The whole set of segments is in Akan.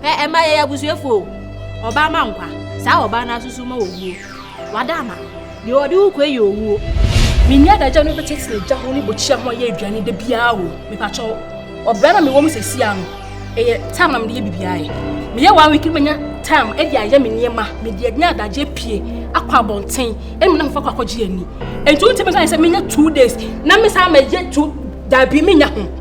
Ɛ ɛma yɛyɛ abusuafoɔ o. Ɔbaa ma nkwa, saa ɔbaa no asoso ma owuo. Wada ama, deɛ ɔde wo kɔɛ yɛ owuo. Me nua adagya no bɛtɛ tena gya ho ne bokyia ho yɛ aduane da biara o. Mepakyɛw, ɔbra na mewɔ mu sɛsia no, ɛyɛ time na mede yɛ bibiara ɛ. Meyɛ one week no manya time ɛde ayɛ me nneɛma, mede ɛne adagya apue akɔ abɔnten ɛne mene fofa kɔ akɔgye ani. Ɛnti wontimi nka ne sɛ menya two days na mesan mɛyɛ two, daabi menya ho.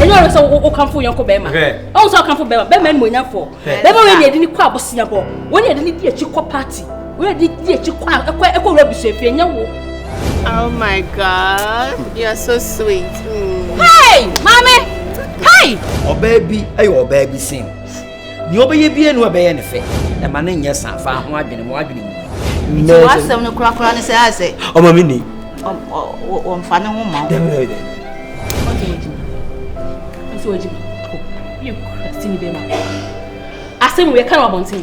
ɛnyɛ ɔno sɛ wokamfo wo yɔnko bɛrima ɔwo sɛ wokamfo bɛrima bɛrima animuonyamfoɔ bɛrima wei ne ɛde ne kɔ abosea bɔ wei ne ɛde ne di akyi kɔ party wei ne ɛde di akyi kɔ ɛkɔ ɛkɔ wura busuafie ɛnyɛ wo Oh my God, you are so sweet. Mm. Hey, mommy. Hey. Ɔbaa bi ɛyɛ ɔbaa bi sin. Nea ɔbɛyɛ biara ni ɔbɛyɛ ne fɛ. Ɛma no nyɛ sa fa ho adwene mu adwene mu. Nti w'asɛm no korakora ne sɛ ayɛ sɛ. Ɔma me ni. Ɔmfa ne ho ma wo. Dɛbi dɛbi dɛbi. Ɔgye ɔgye mi. Nso ɔgye mi. Yɛ kura si ni bɛma. Asɛm yɛ kan wɔ abɔnten.